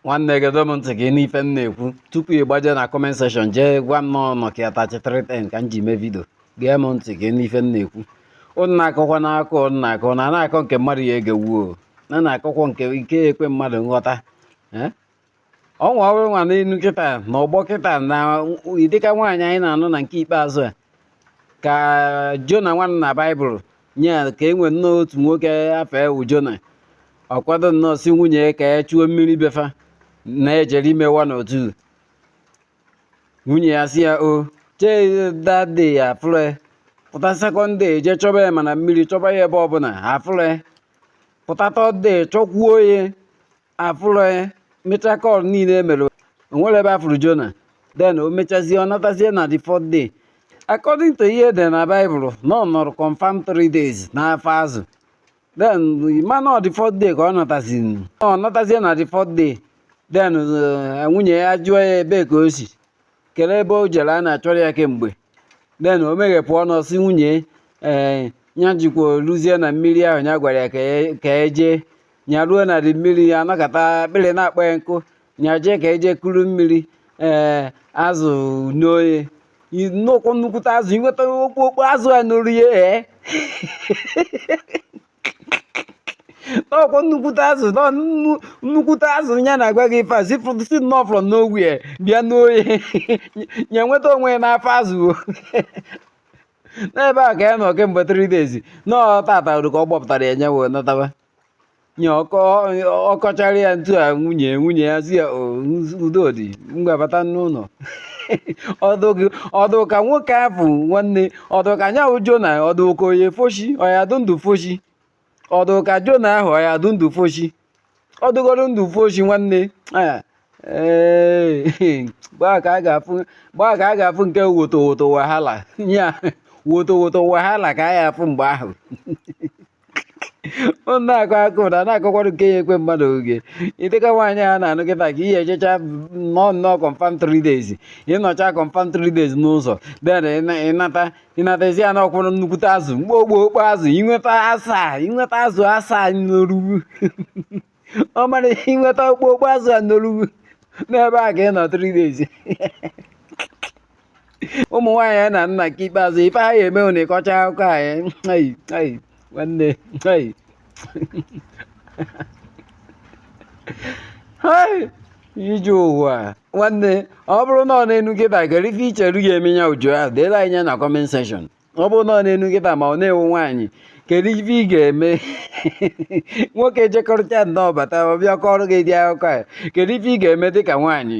nwanne gedo m ntị gị n'ife m na-ekwu tupu ị gbaje na comment section jee gwa m na ọ Nokia 3310 ka m ji mee vidio gee m ntị gị n'ife m na-ekwu ụnụ na-akọkwa n'aka ụnụ na-akọ na na-akọ nke mmadụ ya-egenwu na na-akọkwa nke ya-ekwe mmadụ nghọta eh? ọnwa ọrụ nwa n'elu kịta na ọgbọ kịta na dịka nwaanyị anyị na-anụ na nke ikpeazụ a ka jona nwanne na baịbụl nye ya ka e nwee nnọọ otu nwoke afa ya wụ jona ọ kwado nnọọ sị nwunye ya ka ya chuo mmiri be fa na-ejere ime one or two nwunye ya sị ya o chee that day afụrọ ya pụta second day je chọba ya ma na mmiri chọba ya ebe ọbụla afụrọ ya pụta third day chọkwuo ya afụrọ ya mecha call niile e mere o nwerọ ebe a fụrụ jona then o mechazie ọ natazie na the fourth day according to ihe dị na baịbụl na ọ nọrọ confam 3 days n'afọ azụ then mana ọ the fourth day ka ọ natazi ọ natazie na the fourth day then eh, nwunye ya jụọ ya ebe ka o si kelee ebe o jere a na-achọrọ ya kemgbe then o meghepụ ọnụ sị nwunye ee eh, ya jekwa luzie na mmiri ahụ ya gwara ya ka ya jee e nya ruo na dị mmiri ya anọkata akpịrị na-akpọ ya nkụ nya jee ka ya je kuru mmiri ee azụ noo ya nnukwu nnukwute azụ i nweta okpokpo azụ a noru ya ee ọkwa nnukwute azụ nọ nnu- nnukwute azụ ya na-agwa gị ife a si fụ- si nnọọ from nowhere bịa noo ya ya nweta onwe ya n'afọ azụ o. n'ebe a ka ya nọ kemgbe three days na ọ taata ka ọ gbọpụtara ya nya wee nataba nye ọ kọchara ya ntụ a nwunye nwunye ya sị ya udo dị ngwa bata n'ụlọ ọdụ ka nwoke ahụ nwanne ọdụ ka ya wụ jona ọdụ ka onye foshi ọ ya-adụ ndụ foshi ọdụ ka jona ahụ ya-adụ ndụ foshi ọ dụgoro ndụ foshi nwanne gbaa ka a ga-afụ nke woto woto wahala ya woto woto wahala ka a ya-afụ mgbe ahụ na-akọ akụkọ na-akọkwara nke ya-ekwe mmadụ ege ụdị ka nwaanyị a na-anụ kịta ka ị ya-ejecha nọọ nnọọ confam 3 days ị nọcha confam 3 days n'ụzọ then ị nata ị nata sị ya n'ọkwụrụ nnukwute azụ mgbe okpokpo azụ i nweta asa i nweta azụ asa noru gụ ọ mara i nweta okpokpo azụ a noru gụ n'ebe a ka ị nọ three days ụmụ nwaanyị a na-anụ na nke ikpeazụ ife ha ya-eme ụnụ ị kọcha akụkọ anyị nwanne ije ụwa nwanne ọ bụrụ na ọ na-enu kịta kedu ife i cheru ya eme ya uju ahụ deelu anyị na comment section ọ bụrụ na ọ na-enu kịta ma ọ na ị wụ nwaanyị kedu ife ị ga-eme nwoke jekọrịta nnọọ bata ọ bịa kọrọ gị ụdị akụkọ a kedu ife ị ga-eme dịka nwaanyị